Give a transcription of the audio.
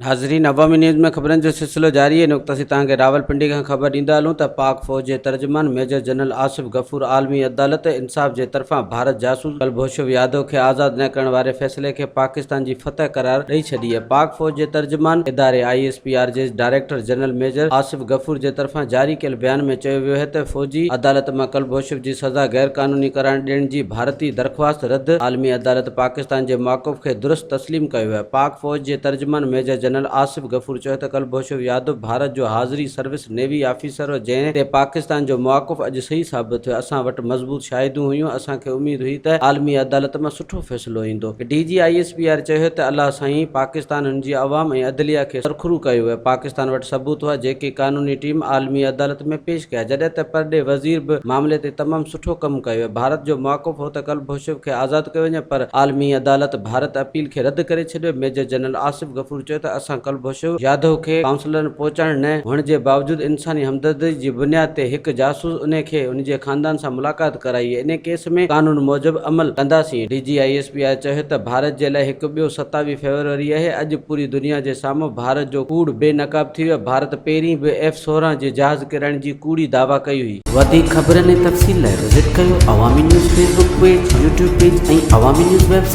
ناظرين عوامي نيوز ۾ خبرن جو سلسلو جاري هن وقت اسين توهان کي راولپنڊي کان خبر ڏيندا هلون ته پاڪ فوج جي ترجمان ميجر جنرل آصف غفور عالمي عدالت انصاف جي طرفان ڀارت جاسوس ڪلڀوشو يادو کي آزاد نه ڪرڻ واري فيصلي کي پاڪستان جي فتح قرار ڏئي ڇڏي آهي پاڪ فوج جي ترجمان اداري آء ايس پي آر جي director general major Asif Ghafoor جي طرفان جاري ڪيل بيان ۾ چيو ويو هي ته فوجي عدالت مان ڪلڀوشف جي سزا غير قانوني قرار ڏيڻ جي ڀارتي درخواست رد، عالمي عدالت پاڪستان جي مواقف کي درست تسليم ڪيو آهي. پاڪ فوج جي ترجمان ميجر جنرل آصف غفور چيو ته ڪلڀوشف يادو ڀارت جو حاضري سروس نيوي آفيسر هو جنهن تي پاڪستان جو مواقف اڄ صحيح ثابت ٿيو، اسان وٽ مضبوط شاهدون هيون، اسان کي اميد هئي ته عالمي عدالت مان. سٺو فيصلو ايندو. D G I S P R چيو ته الله سائين پاڪستان ان جي عوام ۽ عدليه کي سرخرو ڪيو ويو پاڪستان وٽ ثبوت هئا جيڪي قانوني ٽيم عالمي عدالت ۾ پيش ڪيا جڏهن ته پرڏيهه وزير به معاملي تي تمام سٺو ڪم ڪيو ويو ڀارت جو مواقف هو ته ڪلڀوشيف کي آزاد ڪيو وڃي پر عالمي عدالت ڀارت اپيل کي رد ڪري ڇڏيو ميجر جنرل آصف غفور سوچيو ته اسان ڪلڀوشو جاڌو کي ڪائونسلرن پهچائڻ نه هئڻ جي باوجود انساني همدردي جي بنياد تي هڪ جاسوس انهي کي ان جي خاندان سان ملاقات ڪرائي انهي ڪيس ۾ قانون موجب عمل ڪنداسين D G I S P I چيو ته ڀارت جي لاء هڪ ٻيو ستاوي فيبروري اهي اڄ پوري دنيا جي سامهون ڀارت جو ڪوڙ بي نقاب ٿي ويو ڀارت پهرين به ايف سورهن جي جهاز ڪرائڻ جي ڪوڙي دعويٰ ڪئي هئي. وڌيڪ خبرن ۽ تفصيل لاء وزٽ ڪيو Awami news Facebook page, YouTube page ۽ Awami news web site.